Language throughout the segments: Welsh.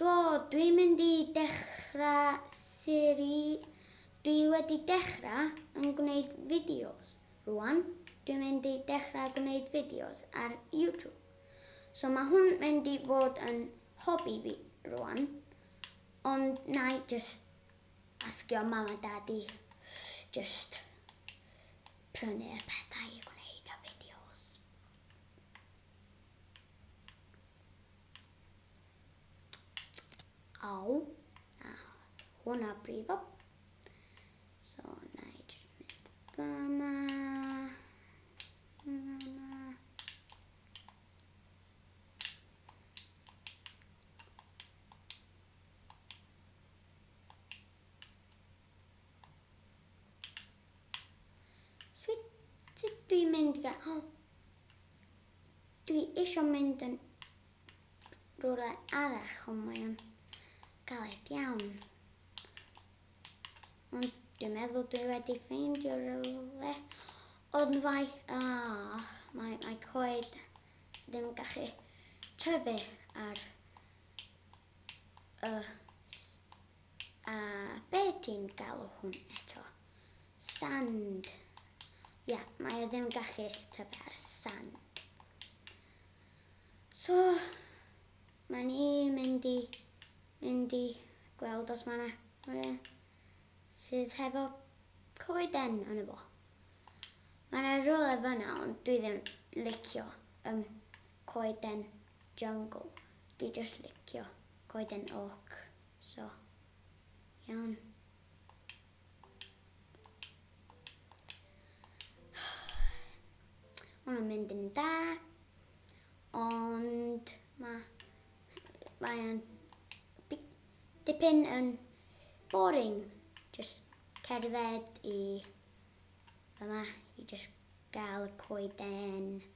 So, dwi'n mynd i dechrau seri... Dwi wedi dechrau yn gwneud fideos rwan. Dwi'n mynd i dechrau gwneud fideos ar YouTube. So mae hwn mynd i fod yn hobi fi rwan. Ond na i just Asgio mam a dad i jyst prynu y pethau i gwneud y fideos. Aw. A hwnna brifo. So, na i jyst mynd fama. Fama. Sut dwi'n mynd ga... O! Dwi eisiau mynd yn rhywle arall, ond mae o'n galed iawn. Ond dwi'n meddwl dwi wedi ffeindio rhywle. Ond mae... Ah, mae, mae coed ddim gallu tyfu ar Y s- a be ti'n galw hwn eto? Sand. Ia, mae o ddim yn gallu tyfu ar sand. So, mae ni mynd i, mynd i gweld os mae yna rhywun sydd hefo coeden yn y fo. Mae yna rhywle fyna ond dwi ddim licio um, Coeden jungle. Dwi jyst licio coeden oak so iawn. Hwn yn mynd yn da. Ond mae mae o'n dipyn yn boring. Just cerdded i yma i just gael y coeden.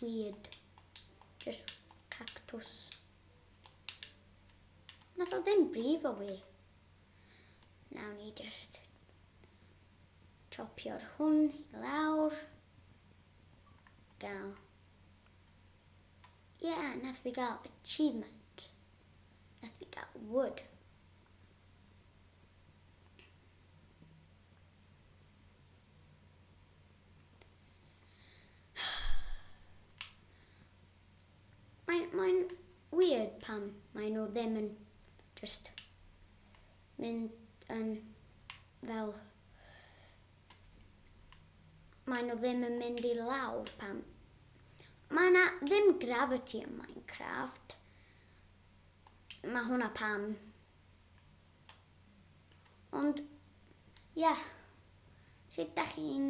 weird. Just cactws. Nath o ddim brif o fi. Nawn ni just chopio'r hwn i lawr. Gael. Ie, yeah, nath fi gael achievement. Nath fi gael wood. Mae'n mae'n weird pam mae nhw ddim yn just mynd yn fel mae nhw ddim yn mynd i lawr pam mae yna ddim gravity yn Minecraft mae hwnna pam Ond, ia, sut da chi'n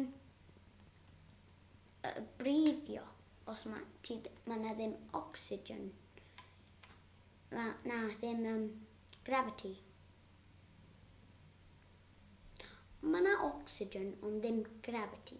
uh, brifio os mae ti, ma na ddim oxygen? Ma na ddim um, gravity. Mae na oxygen ond ddim gravity.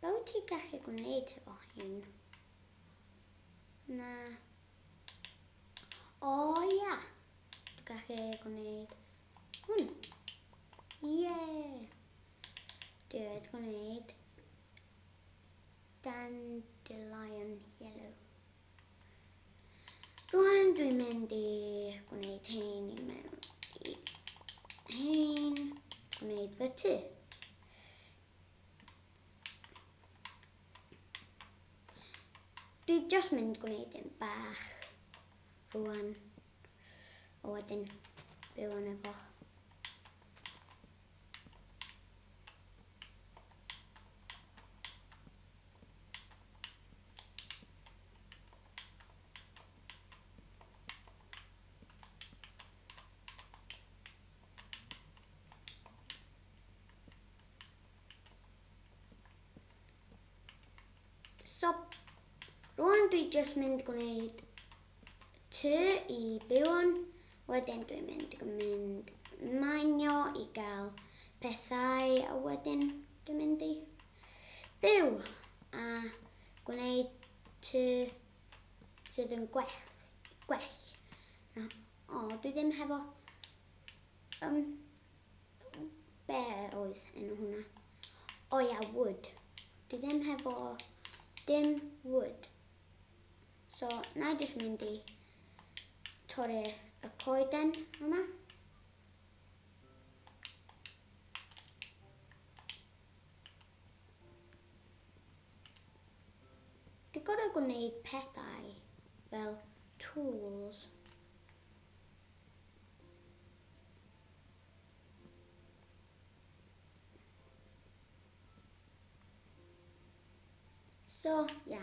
Be wyt ti gallu gwneud hefo hyn? Na. O ia! Dwi'n gallu gwneud hwn. Ie! Dwi wedi gwneud dandelion yellow. Rwan dwi'n mynd i gwneud hein i mewn i hein, gwneud fy tu. Dwi just mynd gwneud yn bach rwan. a wedyn byw yn y foch. So, rwan dwi jyst mynd gwneud tŷ i byw yn, wedyn dwi'n mynd mynd manio i gael pethau a wedyn dwi'n mynd i byw a gwneud tŷ sydd yn gwell, gwell na, o dwi ddim hefo um, be oedd enw hwnna? O ia, wood. Dwi ddim hefo dim wood. So, na i jyst mynd i torri y coeden yma. Dwi'n gorau gwneud pethau fel tools. So, yeah.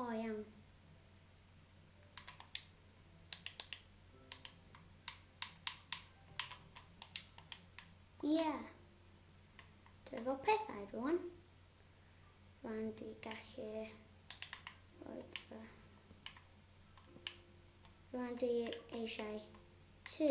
O iawn. Ie. Dwi efo pethau rwan. Rwan dwi gallu... Rwan dwi eisiau tŷ.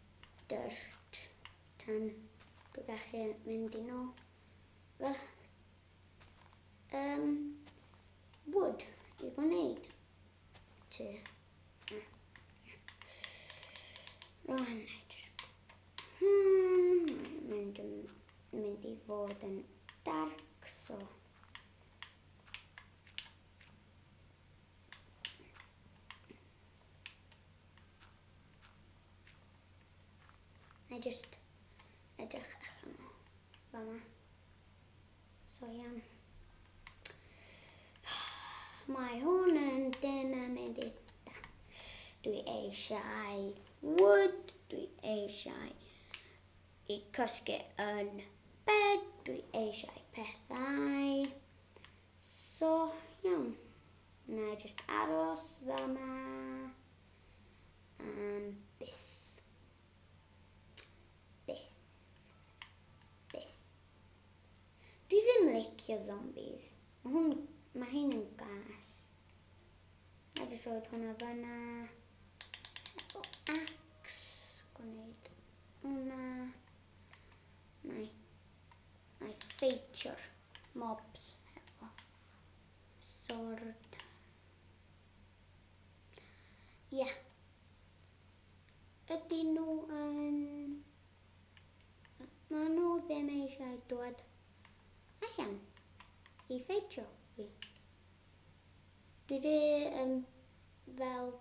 dyrt tan dwi gallu mynd i nôl fy um, wood i gwneud tŷ. Rwan, hmm, mynd, mynd i fod yn dark, so Na i just edrych allan o fama. So iawn. Mae hwn yn dim am mynd i da. Dwi eisiau wood, dwi eisiau i cosgu yn bed, dwi eisiau pethau. So iawn. Na i just aros fama. Am byth. Byth. Byth. Dwi ddim licio zombies. Mae hwn... Mae hyn yn gas. A dwi'n rhoi hwnna fyna. Efo ax. Gwneud hwnna. Na i. Na i ffeitio'r mobs. Efo sword. Ie. Ydyn nhw yn... Maen nhw ddim eisiau dod allan i ffeitio fi. Dwi di um, fel...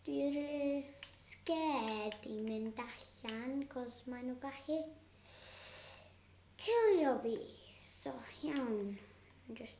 Dwi di scared i mynd allan cos maen nhw gallu cilio fi. So iawn, just